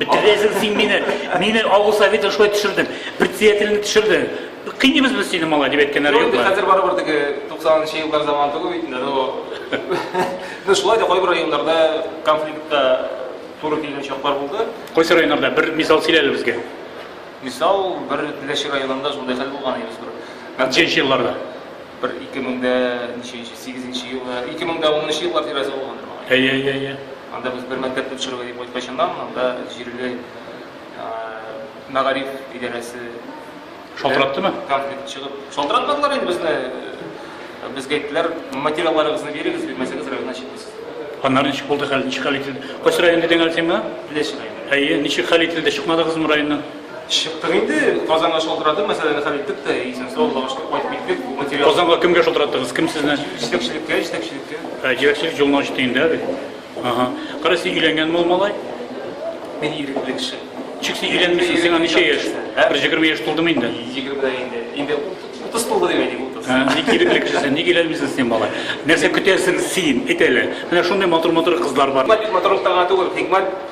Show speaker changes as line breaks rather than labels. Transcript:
Бетерәсең син мине. Мине авыл советы шулай төшердең. Председательне төшердең. Кыйныбыз без сине, малай, дип әйткәннәр юкмы? Инде хәзер барыбер теге
90 еллар заман түгел бит инде. Ну, ну шулай да кайбер районнарда конфликтка туры килгән чаклар булды. Кайсы районнарда? Бер
мисал сөйлә әле безгә. Мисал,
бер Теләче районында шундый хәл булган иде без бер. Ничәнче елларда?
Бер 2000 мең
дә ничәнче, сигезенче ел, 2000 мең дә унынчы еллар дип әзер булгандыр мага. Әйе, әйе, әйе.
Анда без бер
мәктәптә төшерергә дип кайткачыннан, анда җирле мәгариф идарәсе
шалтыраттымы? Конфликт чыгып,
шалтыратмадылар инде безне. Безгә әйттеләр, материалларыгызны бирегез, бирмәсәгез районнан читмисез. Аннары ничек булды
хәл, ничек хәл ителде? Кайсы район дидең әле син миңа? Теләче районы. Әйе,
ничек хәл ителде,
чыкмадыгызмы районнан? Чыктык инде,
Казанга шалтыратып, мәсьәләне хәл иттек тә, исән сау аллаштык, кайтып киттек. Бу материал Казанга кемгә шалтыраттыгыз?
Кем сезне? Җитәкчелеккә, җитәкчелеккә.
Ә, җитәкчелек
җулын ачты инде, ә бит. Ага. Кара, син өйләнгәнме ул малай? Мин
ирекле кеше. Чик син өйләнмисең,
сиңа ничә яшь? Бер җигерме яшь тулдымы инде? Егермедә инде.
Инде утыз тулды дип әйтик, утыз. Ә, Ник ирекле кешесе, ник
өйләнмисең син малай? Нәрсә көтәсең син? Әйт әле. Менә шундый матур-матур кызлар бар. Хикмәт бит матурлыкта гына түгел,
хикмәт